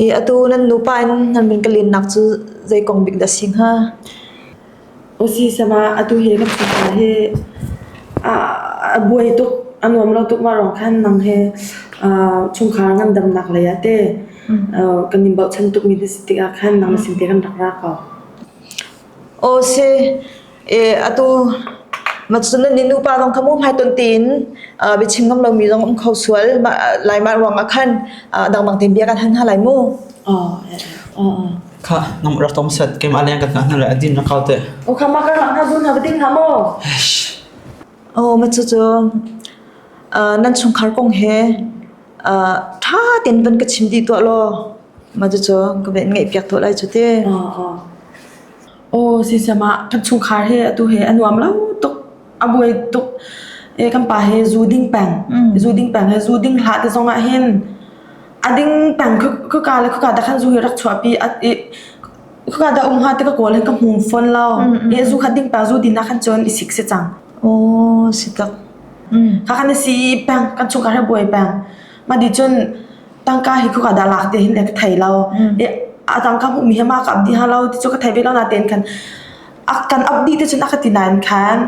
I atu nan nupa in nan min ka lennak cu zei kong bik dah a si hnga? Usisama atu he kan fapa he a buai tuk a nuam lo tuk marong khan nang he chungkhar ngandamnak lei ah te kan in bochan tuk mi na si tikah khan nang na sin te kan rak ra ko. Aw si. e atu matsun ni nupa zong kha mu hmai ton tiin bi chim ngam lomi zong um kho sual lai ma ruang ah khan dangdang tin bia kan han ha lai mu kha nam rak tom set kem ale kan na la adin na kaw te o kha ma kan na bun na bading na mo o ma chu chu nan chung khar kong he tha tin ban ka chim di to lo ma chu chu ka ben ngai piak to lai chu te Aw sisem ah kan chungkhar he atu he a nuam lo tuk a buai tuk e kan pa he zu ding peng zu ding peng he zu ding hla te zong ah hin a ding peng khuka le khuka da khan zu hi rak chuahpi a i khuka da um ha te ka kawl hin ka hmum fawn lo i zu khat ding peng zu din ah khan cun i sik se cang. Aw si tak. Kha kan i si peng kan chungkhar he buai peng. Ma di cun tangka hi khuk ah dah lak te hin ka thei lo i a tangka hmuhmi hi ma ka up dih hna lo ti cu ka thei ve lo natein khan a kan up dih te cun a ka ti nain khan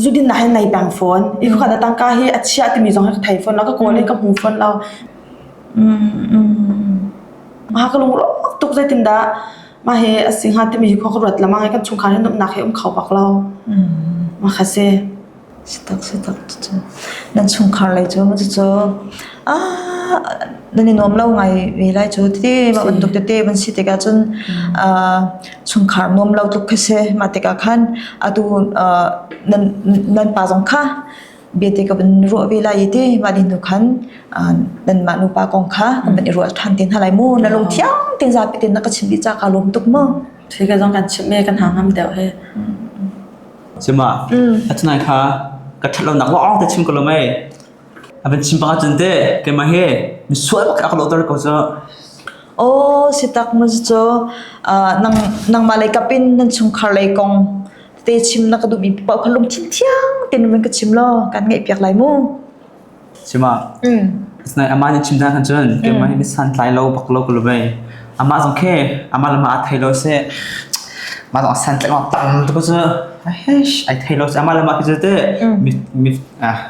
zudin nak hin nei peng fawn i khuk ah dah tangka hi a chia timi zong hi ka thei fawn lo ka kawl i ka hmu fawn lo ha ka lungro tuk zeitin dah ma he a si hnga timi hi khua ka ruat lamang i kan chungkhar hi nuamhnak he um kho bak lo ma kha si Nan chungkhar lei cu cucu nan i nuam lo ngai ve lai cu. Tete mah bantuk tete van si tikah cun chungkhar nuam lo tuk khi si. Mah tikah khan atu nan pa zong kha biate ka van ruah ve lai i ti mah nih nu khan nanmah nupa kong kha kan van i ruah ṭhan te hna lai mu. Na lungthiang tein zapi tein na ka chimh dih ca kaa lawm tuk maw? Khi ka zong kan chimh i kan hang ham deuh hi. Cima, a thanai kha ka that lonak lawng te chim ko lom ai. A van chim bang ahcun te, keimah hi misual bak ak lo tar ko cu. Aw, si tak mo cu. Nang nangmah lei kapin nan chungkhar lei kong te chim na ka dubi pau kha lung thin thiang te nun ka chim lo kan ngai piak lai mu. Sima, Sinai amah nih chim hna khan cun keimah hi santlai lo bak lo ka lu mei. Amah zong khe, amah le mah a thei lo seh, mah zong a santlai ngok tam tu cu, aish, ai thei lo seh, amah le mah ke cu te,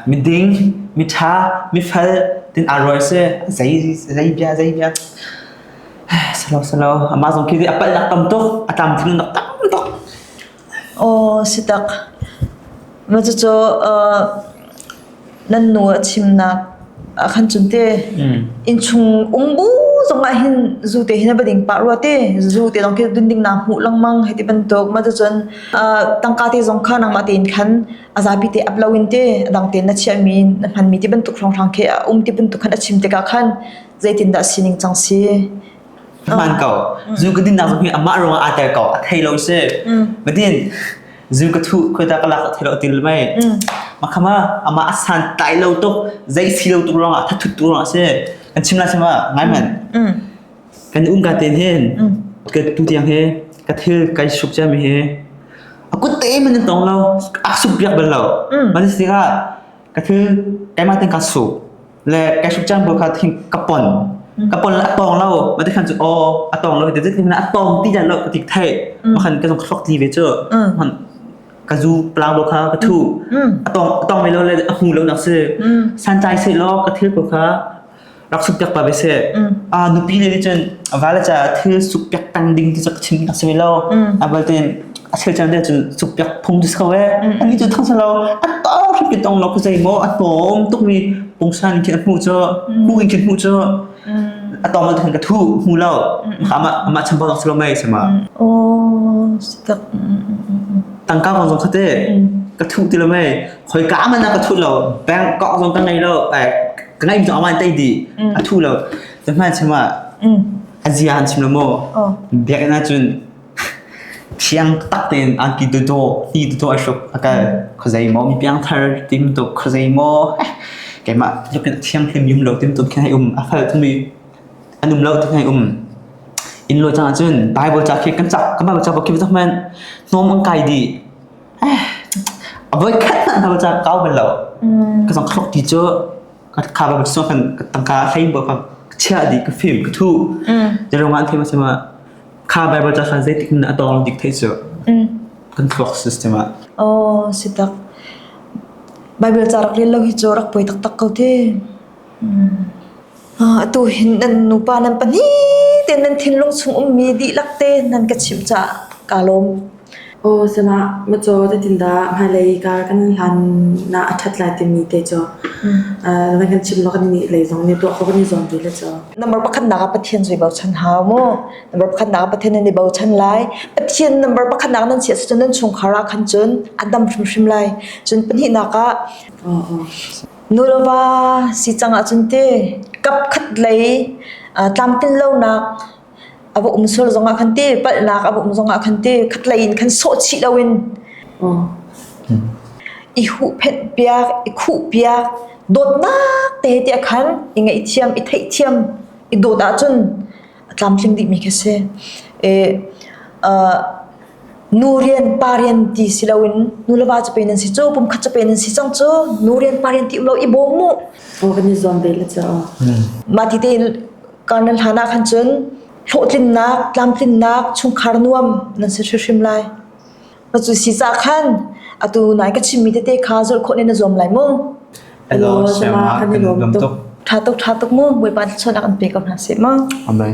mi ding, mi tha, mi fel, tin a roi seh, zei, zei bia, zei bia. Salo, salo, amah zong khe a palh nak tam tuk, a tam thun nak tam tuk. Aw si tak. Cucu nan nu a chimnak ah khan cun te innchung um bu zong ah hin zu te hi na va ding pah rua te. Zu te lawng khi dun ding naa hmuh lengmang hei ti bantuk. Cucun tangka te zong kha nangmah tein khan a zapi te ap loin te a dang tein na chiahmi na hmanmi ti bantuk hrawnghrang khi a um ti bantuk khan a chim tikah khan zeitin dah sining cang si? Hmaan ko. Zu ka dinnak zong hi amah ruangah aa tel ko. A thei lo si. Badin, zu ka thuh, khoita ka lak a thei lo ti mei. Makhama, amah a san tai lo tuk, zei si lo tuk ruangah, thathut tuk ruangah si. Kan chim la chima, ngai man. Kan um ka ten hin. Ka tu tiang hi, ka thil kai suk cia mi hi. A kut te man in tong lo. A suk biak bel lo. Mali stika, ka thil, kaimaa ten ka suk. le kai hruk cang bol kha thing ka pon ka pon le a tawng lo ma te khan cu aw a tawng lo te te na a tawng ti da lo ka tik thai ma khan ka zong thlok ti ve chu ma khan ka zu plang bol kha ka thu a tawng a tawng me lo le a hu lo nak se san chai se lo ka thil ko kha rak suk pek pa be se a nupi le ni chun a vala cha thil suk pek tang ding ti chak chin nak se lo abal ten a thil chan cu cuk piak phung tu so e an ni tu thang sa lo a ta ri pi tong lo ku zai mo a tom tuk mi pung san in mu cho mu in mu cho a tom lo thang ka thu mu lo ma ma cham bo so lo mai sama o tak tang ka ko zong khate ka thu ti lo mai khoi ka ma na ka thu lo bangkok zong ka ngai lo ka ngai zong awan tai di a thu lo to ma chama a zian chim lo mo biak na chun Thiang tak tein an ki dawdawh, ti dawdawh ai hruk a kal. Khuazei maw mi piangthar tim tuk, khuazei maw keimah tluk in thianghlim yum lo tim tuk khin hai um. A fal tumi an um lo ti hai um. In lo cang ahcun Bible ca khi kan cak, kan Bible ca bakip zong men hnawm an kai di. A voi khat na Bible ca kau bel lo. Ka zong khlok ti cu ka kha Bible sung kan tangka hlei buat ka chia di ka film ka thu. Jadi orang kan famous semua Kha Baibal ca khan zeitik in a tawng dik theih cu kan thluak system ah. Oh, si tak. Bible ca rak lil lo hi cu rak poi taktak ko te. Ah, atu hin nan nupa nan pahnih ten nan thinlung chung um mi dihlak te nan ka chim ca ka lom. Aw sinah macaw zeitindah hmailei kar kan hlanah a ṭhat lai timi te cu nan kan chim law kan nih lei zong nih tuah khawh kan i zuam ve le cu. Number pakhatnak ah Pathian zui bochan hau mu. Number pakhatnak ah Pathian nan i bochan lai. Pathian number pakhatnak nan siah cun nan chungkhar ah khan cun an dam hrimhrim lai. Cun pahnihnak ah nu le va si cangah cun ti kapkhat lei tlamtlin lonak a va um sual zongah khan te palhnak a va um zongah khan te khatlei in khan sawh chih loin i huh phenh piak i khuh piak dawtnak te te khan i ngaih thiam i theih thiam i dawt ahcun a tlamtling dihmi khi si e nu rian pa rian ti si loin nu lava cu pe nan si cu pum khat cu pe nan si cang cu nu rian pa rian ti lo i bawm mu organizon ve le cha mati te Kar nan hlan ah khan cun hlawhtlinnak, tlamtlinnak, chungkhar nuam nan si hrimhrim lai. Na cu si cah khan atu nai ka chimmi tete kha zulh khawh ne na zuam lai mu. Elo Shema kan i lawm tuk. Tha tuk tha tuk mu Bawipa thluachuah an pe ko hna sih mu. Amen.